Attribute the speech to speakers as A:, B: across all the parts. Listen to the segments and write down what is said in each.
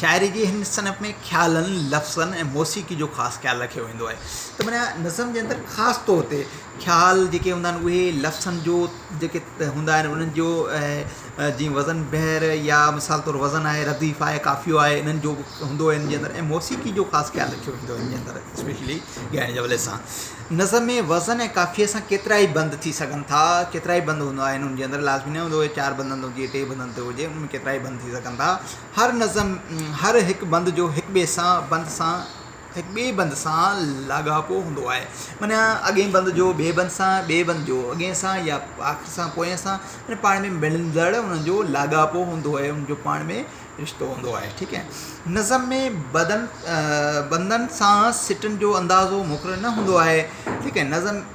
A: شاعري جي هن صنف ۾ خيالن، لفظن ۽ موسيقي جو خاص خيال رکيو ويندو آهي ته معنيٰ نظم جي اندر خاص طور تي خيال جيڪي هوندا آهن اهي لفظن جو جيڪي هوندا آهن انهن جو جي وزن بحر يا مثال طور وزن آهي رديف آهي قافيو آهي انهن جو هوندو آهي ان جي اندر ۽ موسيقي جو خاص خيال رکيو ويندو آهي ان جي اندر اسپيشلي ڳائڻ جي حوالي سان نظم ۾ وزن ۽ قافيي سان ڪيترا ئي بند ٿي سگهن ٿا ڪيترا ئي بند هوندا آهن ان جي اندر لازمي نه هوندو آهي چار بندن تي هجي ٽي بندن تي هجي ان ۾ ڪيترا ئي بند ٿي سگهن ٿا هر نظم هر هڪ بند جو هڪ ٻئي سان بند سان هڪ ٻئي بند سان لاڳاپو هوندو آهي معنيٰ اڳئين بند جو ٻئي بند سان ٻئي بند جو اڳئين سان يا آخر سان پوئين سان معنيٰ پاڻ ۾ ملندڙ ان جو لاڳاپو هوندو آهي ان جو پاڻ ۾ رشتو هوندو آهي ٺيڪ آهي نظم ۾ بدن بندن سان سٽن جو اندازو مقرر نه هوندو آهي ٺيڪ آهي نظم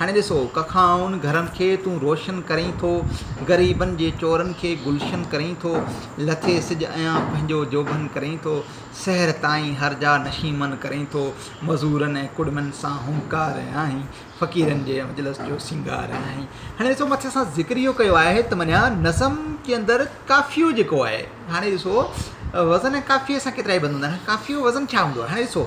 A: هاڻي ڏسو ڪکائن گهرن کي تون روشن ڪرين ٿو، غريبن جي چورن کي گلشن ڪرين ٿو، لٿي سج ايان پنهنجو جوڀن ڪرين ٿو، سحر تائين هر جا نشيمن ڪرين ٿو، مزورن ۽ ڪڙمين سان هنڪار آهين، فقيرن جي مجلس جو سينگار آهين. هاڻي ڏسو مٿي اسان ذڪر اهو ڪيو آهي ته معنيٰ نظم جي اندر قافيو جيڪو آهي هاڻي ڏسو وزن ۽ قافيي سان ڪيترائي بند هوندا آهن، قافيي جو وزن ڇا هوندو آهي هاڻي ڏسو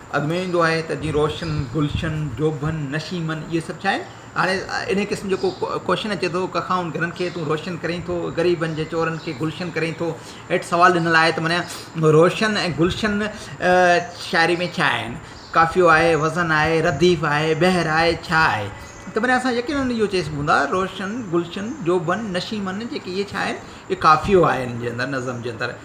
A: اڳ ۾ ايندو آهي ته جيئن روشن، گلشن، جوڀن، نشيمن اهي سڀ ڇا آهن؟ هاڻي انهيء قسم جو ڪو ڪوشچن اچي ٿو، ڪکائن گهرن کي تون روشن ڪرين ٿو، غريبن جي چورن کي گلشن ڪرين ٿو. هيٺ سوال ڏنل آهي ته معنيٰ روشن ۽ گلشن شاعريء ۾ ڇا آهن؟ قافيو آهي، وزن آهي، رديف آهي، بحر آهي، ڇا آهي؟ ته معنيٰ اسان يقيناً اهو چئي سگهون ٿا روشن، گلشن، جوڀن، نشيمن جيڪي اهي ڇا آهن؟ اهي قافيو آهي انهن جي اندر، نظم جي اندر.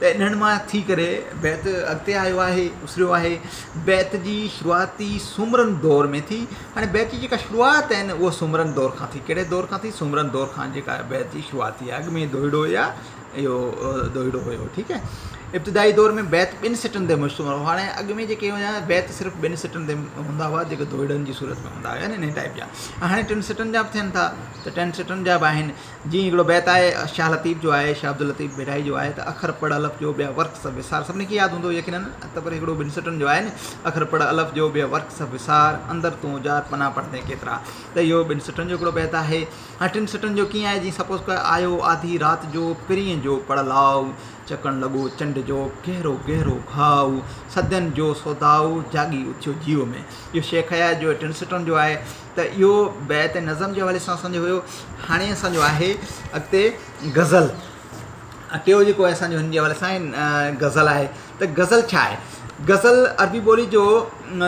A: ڏنڊ مان ٿي ڪري بيت اڳتي آيو آهي، اسريو آهي. بيت جي شروعات ئي سومرن دور ۾ ٿي. هاڻي بيت جي جيڪا شروعات آهي نه اهو سومرن دور کان ٿي. ڪهڙي دور کان ٿي؟ سومرن دور کان جيڪا بيت جي شروعات ٿي آهي. اڳ ۾ دوهيڙو يا اهو دوهيڙو هيو ٺيڪ آهي. ابتدائي دور ۾ بيت ٻن سٽن تي مشتمل هو. هاڻي اڳ ۾ جيڪي هيا بيت صرف ٻن سٽن تي هوندا هئا جيڪي دوهيڙن جي صورت ۾ هوندا هيا نه انهي ٽائيپ جا. هاڻي ٽن سٽن جا به ٿين ٿا ته ٽن سٽن جا به آهن. جيئن هڪڙو بيت آهي شاهه لطيف جو آهي شاهه عبداللطيف ڀيرائي جو آهي ته اکر پڙهه الف جو ٻيا ورق سڀ وسار سڀني کي ياد هوندو يقيناً ته پر هڪڙو ٻن سٽن جو آهي نه اکر پڙهه الف جو ٻيا ورق سڀ وسار اندر تون اجار پنا پڙهندين ڪيترا ته اهو ٻن سٽن جو هڪڙو بيت آهي هاڻي ٽن سٽن جو ڪيئن آهي جيئن سپوز ڪر آيو آڌي رات جو پرينء جو پڙهه لاء چڪڻ لڳو چنڊ جو گهرو گهرو گهاء صدين جو سوداء جاڳي اٿيو جيو ۾ اهو شيخ اياز جو ٽن سٽن جو آهي ته اهو بيت ۽ نظم جي حوالي سان اسان جو هيو هاڻي اسان جو آهي اڳتي غزل ۽ ٽيو جيڪو آهي اسان جو هن جي حوالي سان غزل آهي ته غزل ڇا آهي غزل عربي ٻولي جو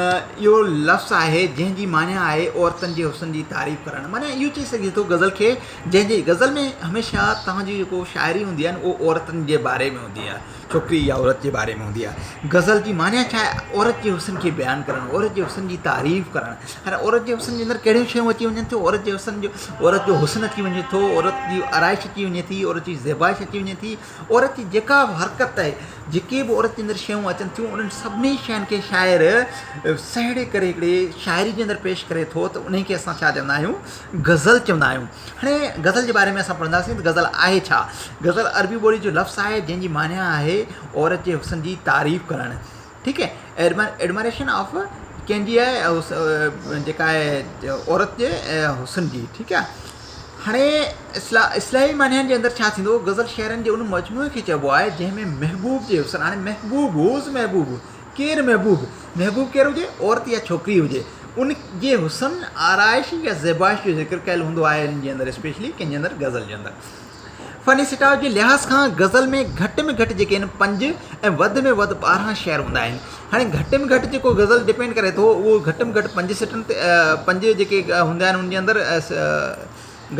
A: اهو لفظ آهي جنهن جي معني آهي عورتن جي حسن جي تعريف ڪرڻ معني اهو چئي سگهجي ٿو غزل کي جنهن جي غزل ۾ هميشه تنهنجي جيڪو شاعري هوندي آهي نه اهو عورتن جي باري ۾ هوندي آهي ڇوڪري يا عورت جي باري ۾ هوندي آهي. غزل جي معني ڇا آهي؟ عورت جي حسن کي بيان ڪرڻ، عورت جي حسن جي تعريف ڪرڻ. هاڻي عورت جي حسن جي اندر ڪهڙيون شيون اچي وڃن ٿيون، عورت جي حسن جو عورت جو حسن اچي وڃي ٿو، عورت جي آرائش اچي وڃي ٿي، عورت جي زيبائش اچي وڃي ٿي، عورت جي جيڪا به حرڪت آهي، جيڪي به عورت جي اندر شيون اچن ٿيون انهن سڀني شين کي شاعر سهيڙي ڪري هڪڙي شاعري جي اندر پيش ڪري ٿو ته انهي کي اسان ڇا چوندا آهيون غزل چوندا آهيون. هاڻي غزل جي باري ۾ اسان پڙهنداسين ته غزل آهي ڇا؟ غزل عربي ٻولي جو لفظ آهي جنهن جي معني آهي عورت جي حسن جي تعريف ڪرڻ ٺيڪ Admiration of ڪنهن جي جيڪا آهي عورت جي حسن جي ٺيڪ آهي هاڻي اصلاحي معنيٰ جي اندر ڇا ٿيندو غزل شعرن جي ان مجموعي کي چئبو آهي جنهن ۾ محبوب جي حسن هاڻي محبوب هو از محبوب ڪير محبوب؟ محبوب ڪير هجي، عورت يا ڇوڪري هجي، ان جي حسن، آرائش يا زيبائش جو ذڪر ڪيل هوندو آهي هن جي اندر اسپيشلي ڪنهن جي اندر غزل جي اندر. فني سٽاء جي لحاظ کان غزل ۾ گهٽ ۾ گهٽ جيڪي آهن پنج ۽ وڌ ۾ وڌ ٻارهن شعر هوندا آهن. هاڻي گهٽ ۾ گهٽ جيڪو غزل ڊپينڊ ڪري ٿو اهو گهٽ ۾ گهٽ پنج سٽن تي پنج جيڪي هوندا آهن ان جي اندر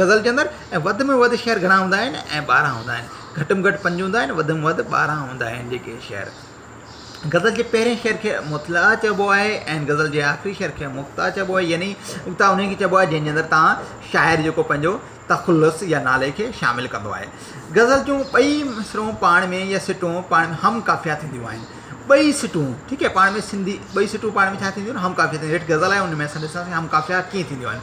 A: غزل جي اندر ۽ وڌ ۾ وڌ شعر گهڻا هوندا آهن ۽ ٻارهن هوندا آهن. گهٽ ۾ گهٽ پنج هوندا آهن وڌ ۾ وڌ ٻارهن هوندا آهن جيڪي شعر. غزل جي پهرين شعر کي مطلعه چئبو آهي ۽ غزل جي آخري شعر کي مقطعه چئبو آهي يعني مقطعه انهيء کي چئبو آهي جنهن جي اندر تان شاعر جيڪو پنهنجو تخلص يا نالي کي شامل ڪندو آهي. غزل جون ٻئي مصرعون پاڻ ۾ يا سٽون پاڻ ۾ هم قافيه ٿينديون آهن. ٻئي سٽون ٺيڪ آهي پاڻ ۾ سنڌي ٻئي سٽون پاڻ ۾ ڇا ٿينديون آهن هم قافيه ٿينديون آهن هيٺ غزل آهي ان ۾ اسان ڏسنداسين هم قافيه ڪيئن ٿينديون آهن.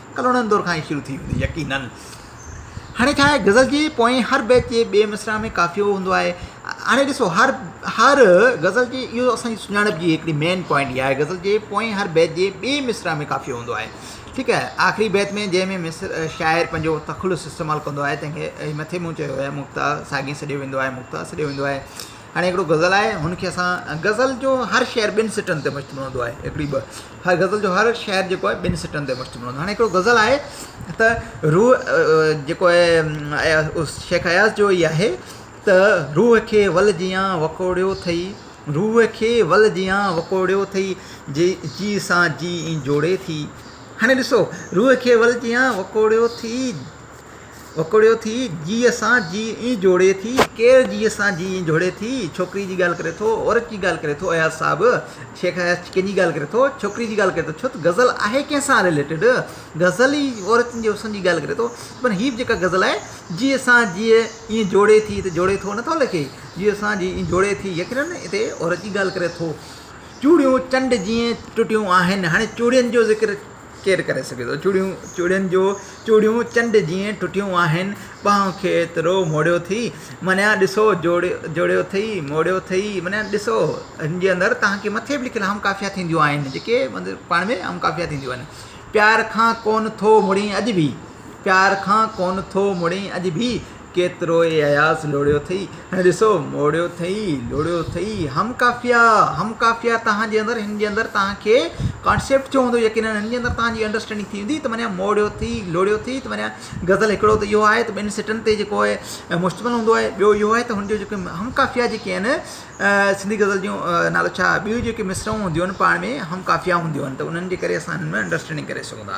A: ڪلهوڙن دور کان ئي شروع ٿي هوندي يقينن. هاڻي ڇا آهي غزل جي پوئين هر بيت جي ٻئي مصرع ۾ قافيو هوندو آهي هاڻي ڏسو هر هر غزل جي اهو اسان جي سڃاڻپ جي هڪڙي مين پوائنٽ اها آهي غزل جي پوئين هر بيت جي ٻئي مصرع ۾ قافيو هوندو آهي ٺيڪ آهي آخري بيت ۾ جنهن ۾ مصرع شاعر پنهنجو تخلص استعمال ڪندو آهي تنهن کي مٿي مون چيو آهي مقطع ساڳي سڏيو ويندو آهي مقطع سڏيو ويندو آهي هاڻي هڪڙو غزل آهي هن کي اسان غزل جو هر شعر ٻن سٽن تي مشتمل هوندو آهي هڪڙي ٻه هر غزل جو هر شعر جيڪو آهي ٻن سٽن تي مشتمل هوندو آهي هاڻي هڪڙو غزل آهي ته روح جيڪو آهي شيخ اياز جو ئي آهي ته روح کي ول جيان وڪوڙيو اٿئي روح کي ول جيان وڪوڙيو اٿئي جي جي سان جي جوڙي ٿي هاڻي ڏسو روح کي ول جيان وڪوڙيو اٿئي وڪوڙيو ٿي جيء سان جيء ائين جوڙي ٿي ڪير جيء سان جيء ائين جوڙي ٿي ڇوڪري جي ڳالهه ڪري ٿو عورت جي ڳالهه ڪري ٿو اياز صاحب شيخ اياز ڪنهن جي ڳالهه ڪري ٿو ڇوڪري جي ڳالهه ڪري ٿو ڇو ته غزل آهي ڪنهن سان رليٽيڊ غزل ئي عورتن جي حسن جي ڳالهه ڪري ٿو پر هي به جيڪا غزل آهي جيء سان جيء ائين جوڙي ٿي ته جوڙي ٿو نٿو لکي جيء سان جيء ائين جوڙي ٿي يقينن هتي عورت جي ڳالهه ڪري ٿو چوڙيون چنڊ جيئن ٽٽيون آهن هاڻي چوڙين جو ذڪر ڪير ڪري سگهي ٿو. چوڙيون چوڙين جو چوڙيون چنڊ جيئن ٽٽيون آهن. ٻانهن کي ايترو موڙيو ٿي. منيان ڏسو جوڙيو ٿئي موڙيو ٿئي. منيان ڏسو هن جي اندر توهان کي مٿي به لکيل هم قافيا ٿينديون آهن جيڪي پاڻ ۾ هم قافيا ٿينديون آهن. پيار کان ڪونه ٿو مڙين اڄ به پيار کان ڪونه ٿو مڙين اڄ به ڪيترو ئي اياز لوڙيو اٿئي، هن ڏسو موڙيو اٿئي، لوڙيو اٿئي، هم قافيه، هم قافيه توهان جي اندر، هن جي اندر توهان کي ڪانسيپٽ ٿيو هوندو يقينن هن جي اندر توهان جي انڊرسٽينڊنگ ٿي ويندي ته معنيٰ موڙيو اٿئي، لوڙيو اٿئي ته معنيٰ غزل هڪڙو ته اهو آهي ته ٻن سٽن تي جيڪو آهي مشتمل هوندو آهي، ٻيو اهو آهي ته هن جون جيڪي هم قافيه جيڪي آهن سنڌي غزل جون نالو ڇا ٻيون جيڪي مصرعون هونديون آهن پاڻ ۾ هم قافيه هونديون آهن ته انهن جي ڪري اسان انهن ۾ انڊرسٽينڊنگ ڪري سگهون ٿا.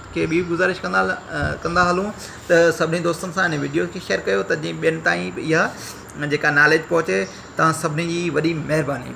A: کي ٻي به گذارش ڪندا ڪندا هلون ته سڀني دوستن سان هن وڊيو کي شيئر ڪيو ته جيئن ٻين تائين به اها جيڪا ناليج پهچي توهان سڀني جي وڏي مهرباني